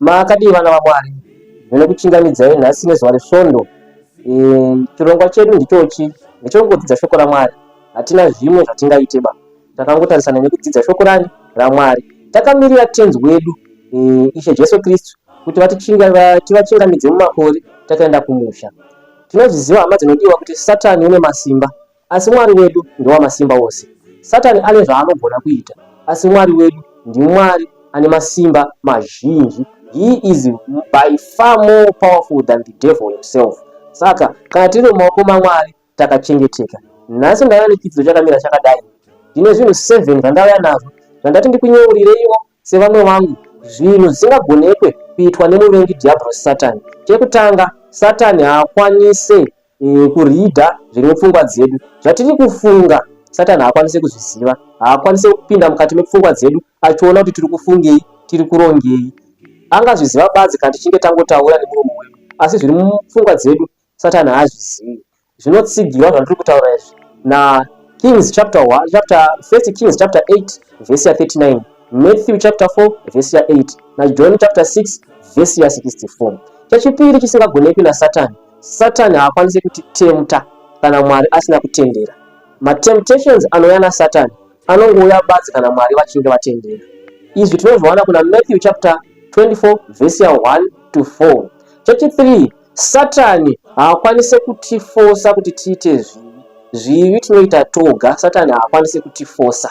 Makadii vana vaMwari, ndinokuchingamidzai nhasi nezuva resvondo. Eh, chirongwa chedu ndichochi ndechongodzidza shoko raMwari. Hatina zvimwe zvatingaite ba, takangotarisana nekudzidza shoko rani raMwari. Takamirira tenzi wedu eh, Ishe Jesu Kristu kuti vatichingamidze mumakore takaenda kumusha. Tinozviziva hama dzinodiwa kuti Satani une masimba Asi Mwari wedu ndewamasimba ose. Satani ane zvaanogona kuita, asi Mwari wedu ndiMwari ane masimba mazhinji. He is by far more powerful than the devil himself. Saka kana tiri mumaoko maMwari takachengeteka. Nhasi ndauya nechidzidzo chakamira chakadai. Ndine zvinhu 7 zvandauya nazvo zvandati ndikunyeureiwo sevamwe vangu zvinhu zvisingagonekwe kuitwa nemuvengi Dhiabhorosi Satani. Chekutanga, Satani haakwanise mm, kuridha zviri mupfungwa dzedu zvatiri kufunga satani haakwanise kuzviziva haakwanise kupinda mukati mepfungwa dzedu achiona kuti tiri kufungei tiri kurongei angazviziva badzi kana tichinge tangotaura nemuromo wedu asi zviri mupfungwa dzedu satani haazvizivi zvinotsigirwa zvandiri kutaura izvi na kings chapter 1 chapter first kings chapter 8 vhesi ya 39 matthew chapter 4 vhesi ya 8 najohn chapter 6 vhesi ya 64 chechipiri chisingagonekwi nasatani Satani haakwanise kutitemta kana Mwari asina kutendera. Matemptations anouya naSatani anongouya badzi kana Mwari vachinge vatendera. Izvi tinozviwana kuna Matthew chapter 24 verse 1 to 4. Chechi 3 Satani haakwanise kutifosa kuti tiite zvivi. Zvivi tinoita toga, Satani haakwanise kutifosa.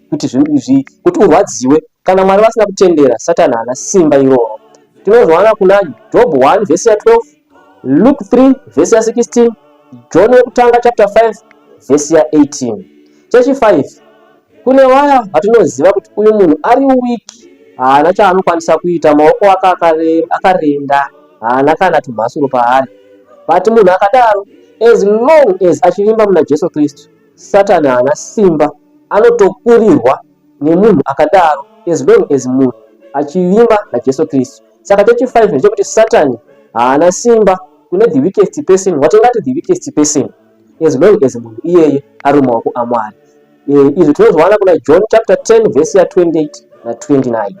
kuti zvi, kuti urwadziwe kana mwari vasina kutendera satani haana simba iroro tinozwana kuna job 1 vhesi ya 12 luke 3 vhesi ya 16 john wekutanga chapter 5 vhesi ya 18 chechi 5 kune waya vatinoziva kuti uyu munhu ari wiki haana chaanokwanisa kuita maoko ake akarenda haana kana tumhasuro paari vati munhu akadaro as long as achivimba muna jesu kristu Satan haana simba anotokurirwa nemunhu akadaro as long as munhu achivimba naJesu Kristu. Saka chechi 5 ndechekuti Satan haana simba kune the weakest person watingati the weakest person as long as munhu iyeye ari mumaoko aMwari. Eh, izvi tinozviwana kuna John chapter 10 verse ya 28 na 29.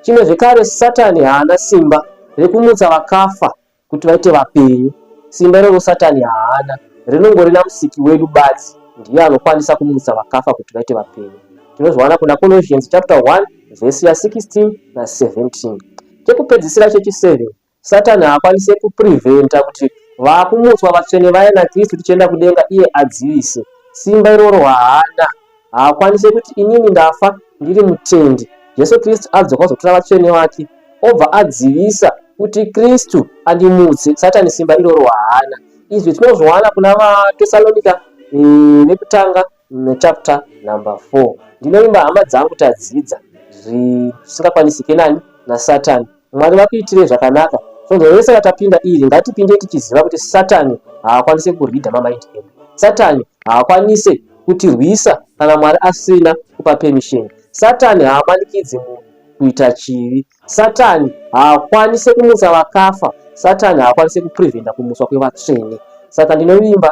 Chimwe zvekare Satan haana simba rekumutsa vakafa kuti vaite vapenyu. Simba iroro Satani haana, rinongori naMusiki wedu badzi ndiye anokwanisa kumutsa vakafa kuti vaite vapenyu. Tinozviwana kuna Colossians chapter 1 vhesi ya 16 na 17. Chekupedzisira chechi 7 Satani haakwanise kupreventa kuti vakumutswa vatsvene vaye naKristu tichienda kudenga iye adzivise. Simba iroro haana. haakwanise kuti inini ndafa ndiri mutendi jesu kristu adzoka kuzotora vatsvene vake obva adzivisa kuti kristu andimutse satani simba iroro haana izvi tinozviwana kuna vatesalonika eh, vekutanga nechapter number four ndinovimba hama dzangu tadzidza zvisingakwanisike nani nasatani Mwari vakuitirei zvakanaka. Svondo rese ratapinda iri ngatipinde tichiziva kuti Satani haakwanise kurida mamaindi edu. Satani haakwanise kutirwisa kana Mwari asina kupa permission. Satani haamanikidzi munhu kuita chivi. Satani haakwanise kumutsa vakafa. Satani haakwanise kupreventa kumuswa kwevatsvene. Saka ndinovimba